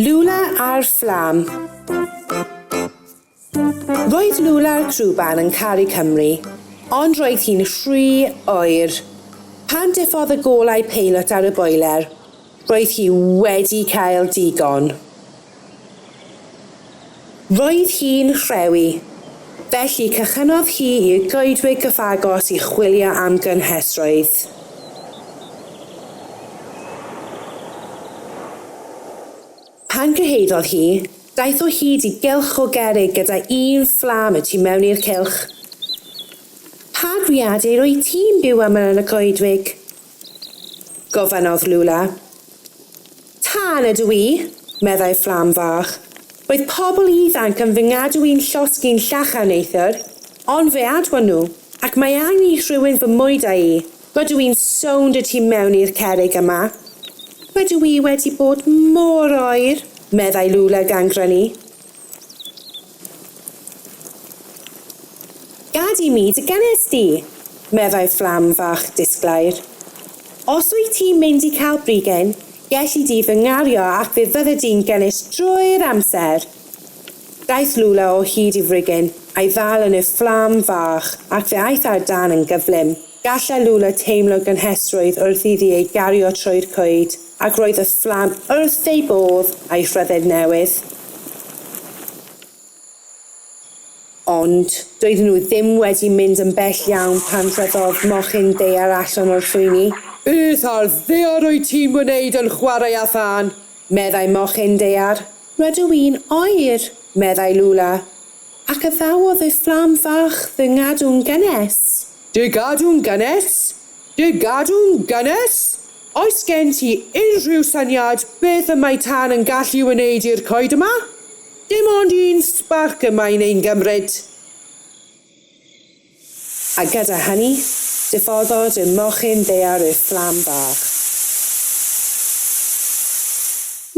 Lula a'r Fflam Roedd Lula'r Crwban yn caru Cymru, ond roedd hi'n rhy oer. Pan diffodd y golau peilot ar y boeler, roedd hi wedi cael digon. Roedd hi'n rhewi, felly cychynnodd hi i'r goedwig gyfagos i chwilio am gynhesrwydd. Pan gyhoeddodd hi, daeth o hyd i gylch o gerrig gyda un fflam y tu mewn i'r cylch. Pa greadur wyt ti'n byw â mewn y goedwig? Gofynnodd Lula. Tân ydw i, meddai fflam fach. Roedd pobl ifanc yn fy ngadw i'n llosg i'n llachar neithiwr, ond fe adwon nhw, ac mae angen i rhywun fy mwydau i. Rydw i'n sownd y tu mewn i'r cerrig yma. Rydw i wedi bod mor oer, meddai Lula gan grynu. Gad i mi dy gynnes di! meddai fflam fach disglair. Os wyt ti'n mynd i cael brigyn, gelli di fy ngario ac fe fydde di'n gynnes drwy'r amser! Daeth Lula o hyd i frigyn, a'i ddal yn y fflam fach, ac fe aeth ar dân yn gyflym. Gallai Lula teimlo gynhesrwydd wrth iddi ei gario trwy'r coed, ac roedd y fflam wrth ei bodd â'i rhyddid newydd. Ond doedden nhw ddim wedi mynd yn bell iawn pan rhoddodd mochyn ddaear allan o'r llwyni. Beth ar ddaear wyt ti'n wneud yn chwarae â thân? meddai mochyn ddaear. Rydw i'n oer, meddai Lula, ac addawodd y fflam fach fy ngadw'n gynnes. Dy gadw'n gynnes? Dy gadw'n gynnes? Oes gen ti unrhyw syniad beth y mae tân yn gallu wneud i'r coed yma? Dim ond un sbarc y mae'n ein gymryd. A gyda hynny, diffoddwyd y mochyn ddaear i'r fflam bach.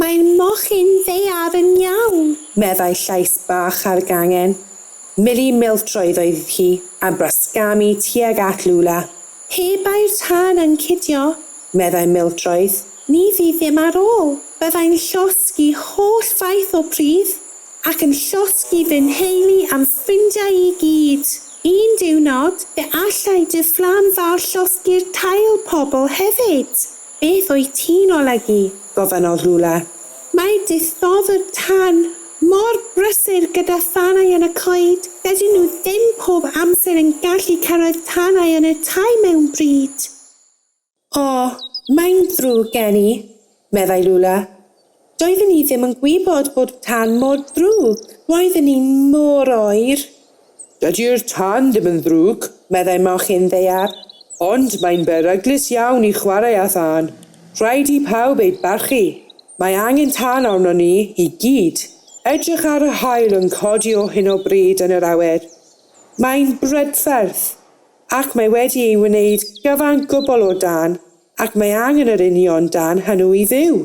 Mae'r mochyn ddaear yn iawn, meddai llais bach ar gangen. Milly Miltroedd oedd hi, a brasgamu tuag at Lula. Pe bai'r tân yn cidio, meddai Mildroed, ni fydd ddim ar ôl. Byddai'n llosgi holl faith o bridd, ac yn llosgi fy nheulu a'm ffrindiau i gyd. Un diwrnod, fe allai dy fflam fawr llosgi'r tail pobl hefyd. Beth wyt ti'n olygu? gofynnodd Rula. Mae dithofwr tân mor brysur gyda thanau yn y coed, dydyn nhw ddim pob amser yn gallu cyrraedd tanau yn y tai mewn bryd. O, mae'n ddrwg gen i, meddai Rula. Doedden i ddim yn gwybod bod tân mor ddrwg. Roedden ni mor oer. Dydy'r tân ddim yn ddrwg, meddai mochyn ddaear, ond mae'n beryglus iawn i chwarae â thân. Rhaid i pawb ei barchu. Mae angen tân arnon ni i gyd. Edrych ar yr haul yn codi o hyn o bryd yn yr awyr. Mae'n brydferth, ac mae wedi ei wneud gyfan gwbl o dân. Ac mae angen yr union dan hynw i fyw.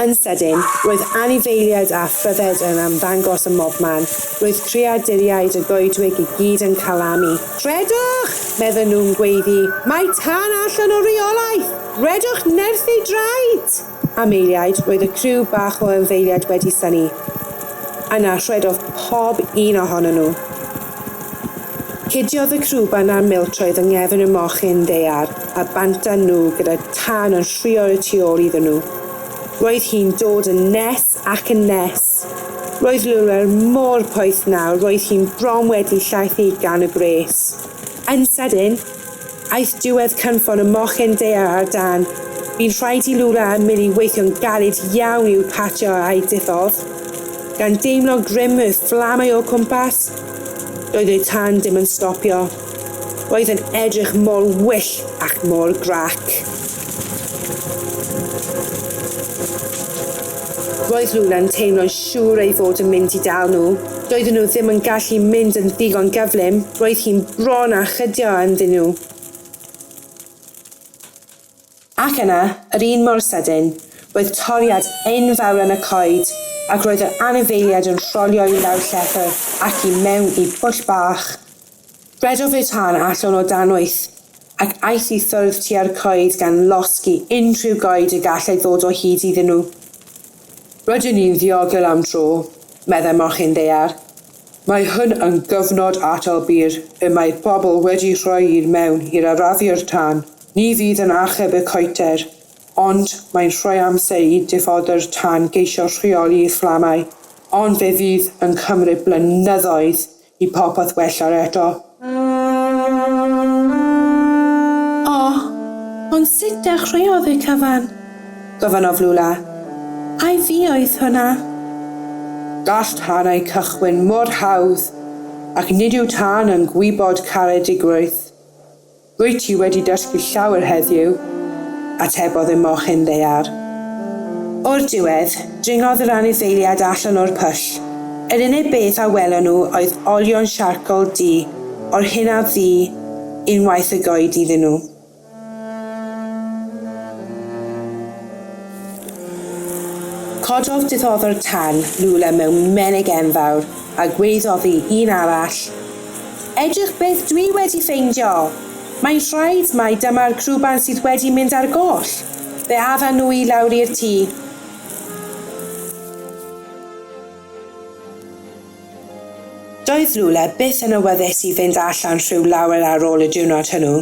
Yn sydyn, roedd anifeiliaid a phryfed yn ymddangos ym mobman. Roedd creaduriaid y goedwig i gyd yn calamu. Rhedwch! medden nhw'n gweiddi. Mae tân allan o reolaeth! Rhedwch nerth ei draed! Am eiliad, roedd y criw bach o anifeiliaid wedi synnu. Yna, rhedodd pob un ohonyn nhw. Cudiodd y crwban a'r miltroedd yng nghefn y mochyn ddaear a bantan nhw gyda thân yn rhuo y tu ôl iddyn nhw. Roedd hi'n dod yn nes ac yn nes. Roedd Lulwer mor poeth nawr, roedd hi'n bron wedi llaethu gan y gwres. Yn sydyn, Aeth diwedd cynffon y mochyn daear ar dân. Bu'n rhaid i Lula a Milly weithio'n galed iawn i'w pacio a'u diffodd. Gan deimlo grym y fflamau o'u cwmpas, doedd y tân ddim yn stopio. Roedd yn edrych mor wyllt ac mor grac. Roedd Lula'n teimlo'n siŵr ei fod yn mynd i dal nhw. Doedden nhw ddim yn gallu mynd yn ddigon gyflym, roedd hi'n bron â chydio ynddyn nhw. Ac yna, yr un mor sydyn, roedd toriad enfawr yn y coed, ac roedd yr anifeiliaid yn rholio i lawr llethr ac i mewn i bwll bach. Rhedodd ei thân allan o dan wyth, ac aeth i ffwrdd tua'r coed gan losgi unrhyw goed y gallai ddod o hyd iddyn nhw. Rydyn ni'n ddiogel am dro, meddai mochyn ddaear. Mae hwn yn gyfnod atal byr y mae pobl wedi rhoi i'r mewn i'r arafu'r tân. Ni fydd yn achub y coeter, ond mae'n rhoi amser i diffoddwr tân geisio rheoli'r fflamau, ond fe fydd yn cymryd blynyddoedd i popeth wella'r eto. O! Ond sut dechreuodd y cyfan? Gofynnodd Lula. Ai fi oedd hwnna? Gall tanau cychwyn mor hawdd, ac nid yw tân yn gwybod caredigrwydd. Rwyt ti wedi dysgu llawer heddiw, atebodd y mochyn ddaear. O'r diwedd, dringodd yr anifeiliaid allan o'r pwll. Yr unig beth a welon nhw oedd olion siarcol du o'r hyn a fu unwaith y goed iddyn nhw. Cododd diddoddwr tân Lula mewn menig enfawr a gweiddodd i un arall, Edrych beth dwi wedi ffeindio! Mae'n rhaid mai dyma'r crwban sydd wedi mynd ar goll! Fe addan nhw i lawr i'r tŷ. Doedd Lule byth yn awyddus i fynd allan rhyw lawer ar ôl y diwrnod hwnnw.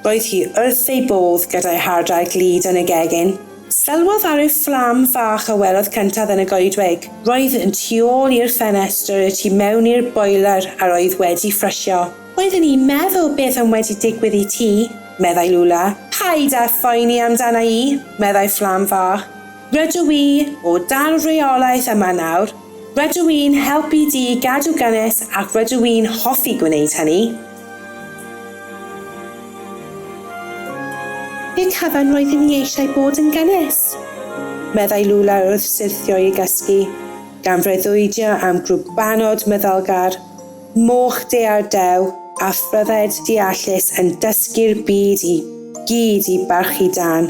Roedd hi wrth ei bodd gyda'i hardal glud yn y gegin. Sylwodd ar y fflam fach a welodd cyntaf yn y goedwig. Roedd yn tu ôl i'r ffenestr y tu mewn i'r boeler a roedd wedi ffrysio. Oeddwn i'n meddwl beth am wedi digwydd i ti, meddai Lula. Paid â phoeni amdana i, meddai fflam fach. Rydw i o dan reolaeth yma nawr. Rydw i'n helpu di gadw gynnes ac rydw i'n hoffi gwneud hynny. Pe tafarn roeddwn i eisiau bod yn gynnes! meddai Lula wrth syrthio i gysgu, gan freuddwydio am grwbanod myddalgar, moch dear dew a phryfed deallus yn dysgu'r byd i gyd i barchu dân.